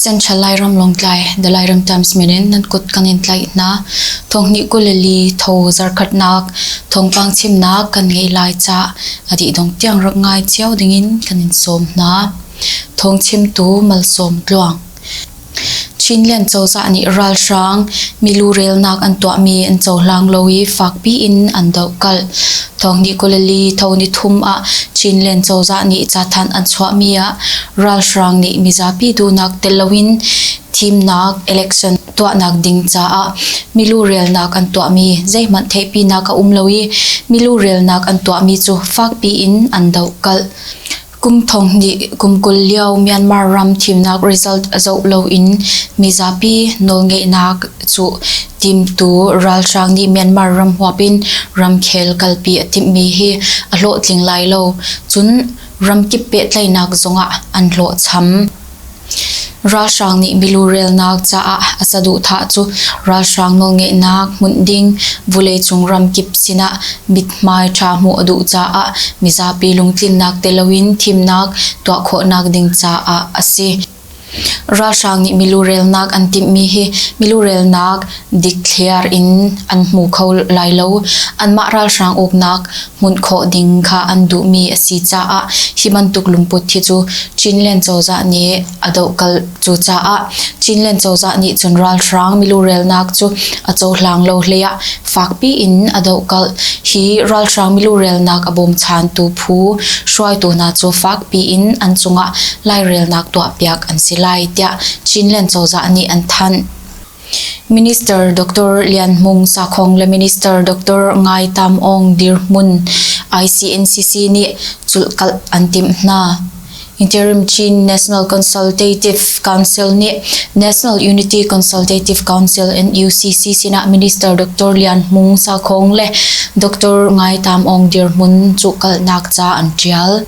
Central Lairam Lawngtlai The Lairam Times min in nan kut kan in tlaih hna. Thonghnih kul le li tho zarkhatnak thongpang chimnak kan ngei lai ca a dih dong tiang rak ngai cio ding in kan in sawm hna. Thong chimtu malsawm tluang. Chinlian cozah nih ralhrang milu relnak an tuahmi an cohlang lo i fakpi in an dohkalh. Thawngnih Galilee thawni thum ah Chinlian cozah nih cathanh an chuahmi ah ralhrang nih mizapi duhnak tel loin thimnak election tuahnak ding caah milu relnak an tuahmi zeihmanh theihpinak a um lo i milu relnak an tuahmi cu fakpi in an dohkalh. Kum thong hnih kum kul lio Myanmar ram thimnak result a zoh lo in mizapi nawlngeihnak cu timtu ralhrang nih Myanmar ram huap in ramkhel kalpi a timhmi hi a hlawhtling lai lo, cun ramkip pehtlaihnak zong ah an hlawhcham. Ralhrang nih milu relnak caah a saduhthah cu ralhrang nawlngeihnak hmunh ding vuleicung ramkip sinah mithmai ṭha hmuh a duh caah mizapi lungtlinnak tel loin thimnak tuah khawhnak ding caah a si. Ralhrang nih milu relnak an timhmi hi milu relnak dikthliar in an hmu kho lai lo. Anmah ralhrang uknak hmunh khawh ding kha an duhmi a si caah hi bantuk lungput hi cu Chinland cozah nih a dohkalh cucaah Chinland cozah nih cun ralhrang milu relnak cu a cohlang lo hlei ah fakpi in a dohkalh hi ralhrang milu relnak a bawmchantu phu hruaitu hna cu fakpi in an cungah lairelnak tuahpiak an si lai tiah Chinland cozah nih an thanh. Minister Doctor Lian Hmung Sakhong le Minister Doctor Ngai Tam Aung dirhmun ICNCC nih culhkalh an timh hna. Interim Chin National Consultative Council nih National Unity Consultative Council NUCC sinah Minister Doctor Lian Hmung Sakhong le Doctor Ngai Tam Aung dirhmun cuhkalhnak ca an ṭial.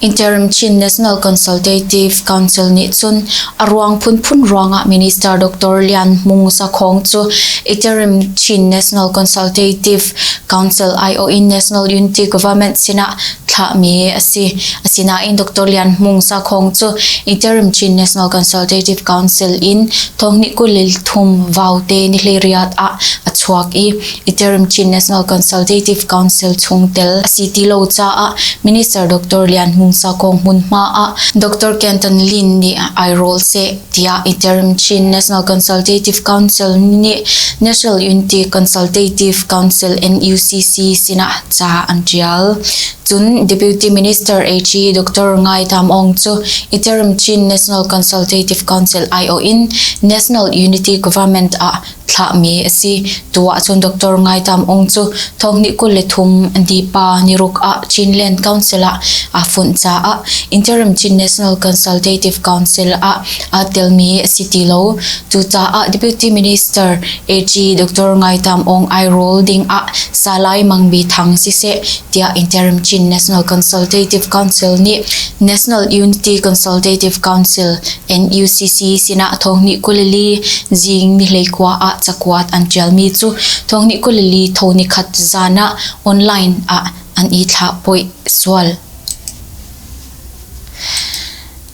Interim Chin National Consultative Council nih cun a ruang phunphun ruangah Minister Doctor Lian Hmung Sakhong cu Interim Chin National Consultative Council aiawh in National Unity Government sinah thlahmi a si. Asinain Doctor Lian Hmung Sakhong cu Interim Chin National Consultative Council in thonghnih kul le thum vaute ni hliriat ah a chuak i Iterim Chin National Consultative Council chungtel a si ti lo caah Minister Dr. Lian Hmung Sa kong hmunhma ah Dr. Kenton Lin nih ai rawl seh tiah Iterim Chin National Consultative Council nih National Unity Consultative Council NUCC sinah ca an tial. Cun Deputy Minister AG Dr. Ngai Tham Ong cu Iterim Chin National Consultative Council IO in National Unity Government ah Thlahmi a si. Tu ahcun Doctor Ngai Tam Aung cu thonghnih kul le thum dipa niruk ah Chinland Council ah aa funh caah Interim Chin National Consultative Council ah aa telmi a si ti lo. Cucaah Deputy Minister AG Doctor Ngai Tam Aung ai rawl ding ah Salai Mang Bi Thang siseh tiah Interim Chin National Consultative Council nih National Unity Consultative Council NUCC sinah Thawngnih Kulili Zing nihleikua ah cakuat an ṭialmi cu Thawngnih Kulili tho nikhat zan ah online ah an i thlahphoih sual.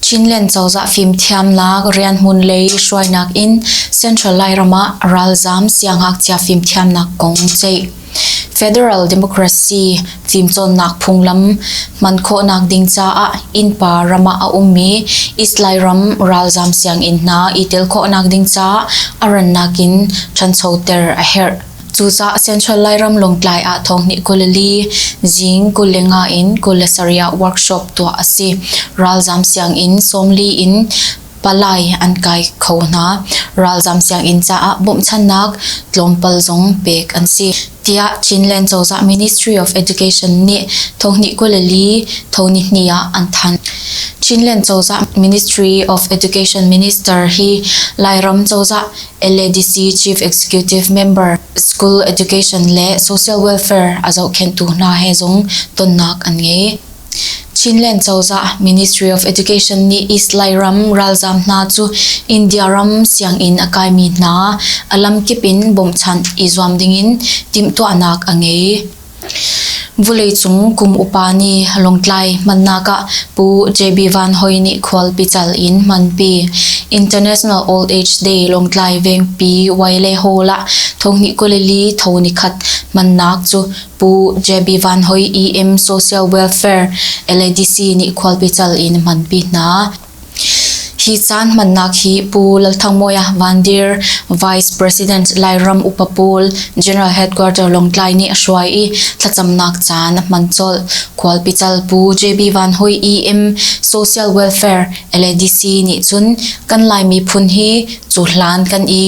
Chinland cozah fimthiamnak rianhmun lei hruainak in Central Lairam ah ralzaam siangngakchia fimthiamnak kong ceih. Federal Democracy fimcawnnak phunglam hman khawhnak ding caah innpa ram ah a ummi Islay ram ralzam sianginn hna i tel khawhnak ding caah a rannak in ṭhanchoter a herh. Cucaah Central Lairam Lawngtlai ah thonghnih kul li zing kul le nga in kul le sarih ah workshop tuah a si. Ralzam sianginn sawmli in Palai an kai kho hna. Ralzam sianginn caah bawmhchannak tlawmpal zong pek an si, tiah Chinland cozah Ministry of Education nih thawhni kul li thonihni ah an thanh. Chinland cozah Ministry of Education Minister hi Lairam cozah LADC Chief Executive Member, School Education le Social Welfare a zohkhenhtu hna he zong tonnak an ngei. Chinland cozah Ministry of Education nih East Lairam ralzaam hna cu India ram sianginn a kaimi hna a lamkip in bawmhchanh i zuam dingin timhtuahnak a ngei. Vuleicung kum upa nih Lawngtlai hmannak ah Pu JB Van Hoi nih khualpi cal in hmanpi. International Old Age Day Lawngtlai vengpi Wailehol ah thonghnih kuli li thonipakhat hmannak cu Pu JB Van Hoi EM Social Welfare LADC nih khualpi cal in hmanpi hna. Hi caan hmannak hi Pu Lalthangmawia Van Dir, Vice President Lairam Upa Paul, General Headquarter Lawngtlai nih a hruai i thlacamnak caan a hman colh. Khualpi cal Pu JB Van Hoi EM Social Welfare LADC nih cun kan Lai miphun hi cu hlan kan i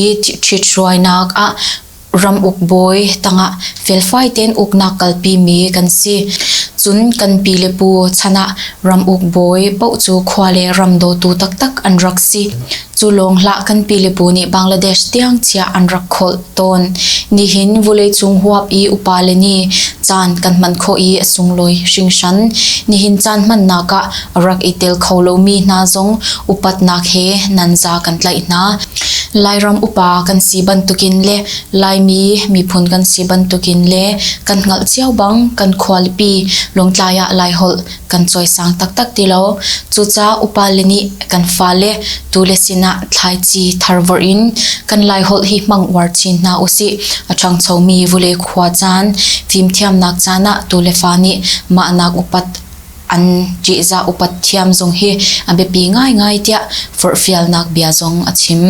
ṭhithruainak ah Ram uk bawi tangah felfai tein uknak kalpimi kan si. Cun kan pi le pu chan ah ram uk bawi paoh cu khua le ram dawtu taktak an rak si. Cu lawng hlah kan pi le pu nih Bangladesh tiang chiah an rak kholh tawn. Nihin vuleicung huap i upa le nih caan kan hman khawh i a sunglawi hringhran. Nihin caan hmannak ah rak i tel kho lomi hna zong upatnak he nan za kan tlaih hna. Lairam upa kan si bantukin le Laimi miphun kan si bantukin le kan hngalh cio bang kan khualipi Lawngtlai ah Laiholh kan cawisang taktak ti lo. Cucaah upa le nih kan fale tu le sinah thlaici tharvorh in kan Laiholh hi hmang uar chin hna usih. A ṭhangchomi vule khua caan fimthiamnak caan ah tu le fa nih mahnak upat An ṭihzah upat thiam zong hi a biapi ngaingai tiah forhfialnak bia zong a chim.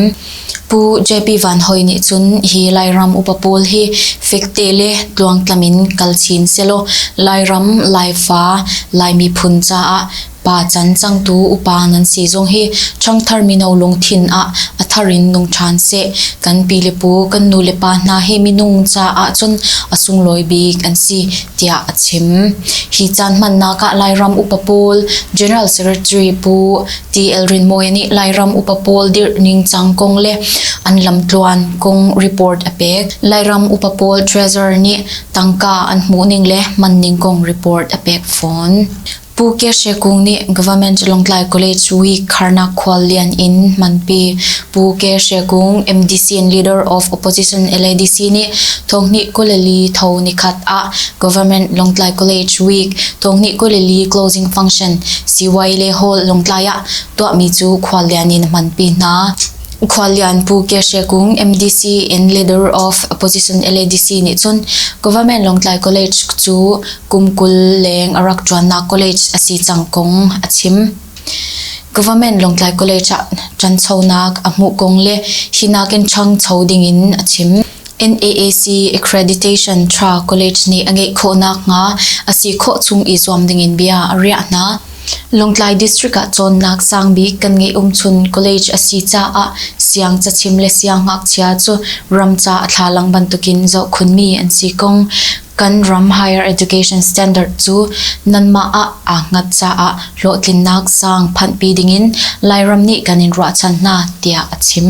Pu JP Van Hoi nih cun hi Lairam upa pawl hi fek te le tluangtlam in kal chin sehlaw Lairam, Laifa, Lai miphun caah pa can changtu upa nan si zong hi ṭhangthar mino lungthin ah a thar in nung ṭhan seh. Kan pi le pu, kan nu le pa hna hi minung caah cun a sunglawi bik an si tiah a chim. Hi caan hmannak ah Lairam upa pawl General Secretary Pu TL Rin Mawi nih Lairam upa pawl dirh ningcang kong le an lamtluan kong report a pek. Lairam upa pawl treasurer nih tangka an hmuh ning le man ning kong report a pek fawn. Pu Kya She Kung nih Government Lawngtlai College Week Kharnak Khuallian in hmanpi Pu Kya She Kung MDC and Leader of Opposition LADC nih thonghnih kuleli tho nikhat ah Government Lawngtlai College Week thonghnih kuleli closing function CY le Hall Lawngtlai ah tuahmi cu khuallian in hmanpi hna. Khuallianpu Kye She Kung MDC in Leader of Opposition LADC nih cun Government Lawngtlai College cu kum kul leng a rak ṭuannak college a si cang kong a chim. Government Lawngtlai College ah ṭanchonak a hmuh kong le hi nakin ṭhangcho dingin a chim. NAAC accreditation ṭha college nih a ngeih khawh nakhnga a si khawh chung i zuam dingin bia a riah hna. Lawngtlai District ah cawnnak sangbik kan ngeih umchun college a si caah siangcachim le siangngakchia cu ramca a thlalang bantukin zohkhunmi an si ko. Kan ram higher education standard cu nanmah ah aa hngat caah hlawhtlinnak sang phanhpi dingin Lairam nih kan in ruahchan hna, tiah a chim.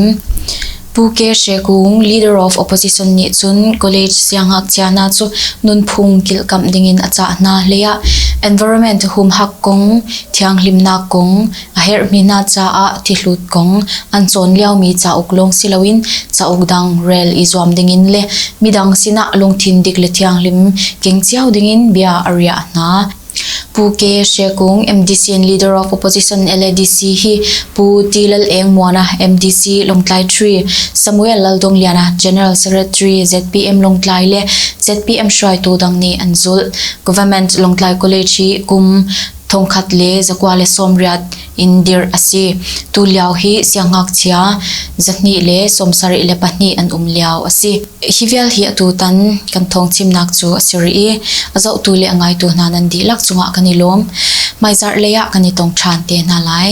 Pu Ke Hre Kung, Leader of Opposition nih cun College siangngakchia hna cu nunphung kilhkamh dingin a cah hna hleiah environment humhak kong, thianghlimnak kong, a herhmi hna caah thihlut kong, an cawn liomi cauk lawng si loin cauk dang rel i zuam dingin le midang sinah lungthin dik le thianghlim keng cio dingin bia a riah hna. Pu Ke Hre Kung, MDC and leader of opposition LADC hi Pu Ti Lal Eng Muana, MDC Lawngtlai 3, Samuel Laldongliana, General Secretary ZPM Lawngtlai le ZPM hruaitu dang nih an zulh. Government Lawngtlai College hi kum thongkhat le zakua le sawmriat in dirh a si. Tulio hi siangngakchia zahnih le sawmsarih le pahnih an um lio a si. Hi vialhi atutan kan thawngchimnak cu a si rih i a zohtu le a ngaitu hna nan dihlak cungah kan i lawm. Hmaizarh lei ah kan i tong ṭhan te hna lai.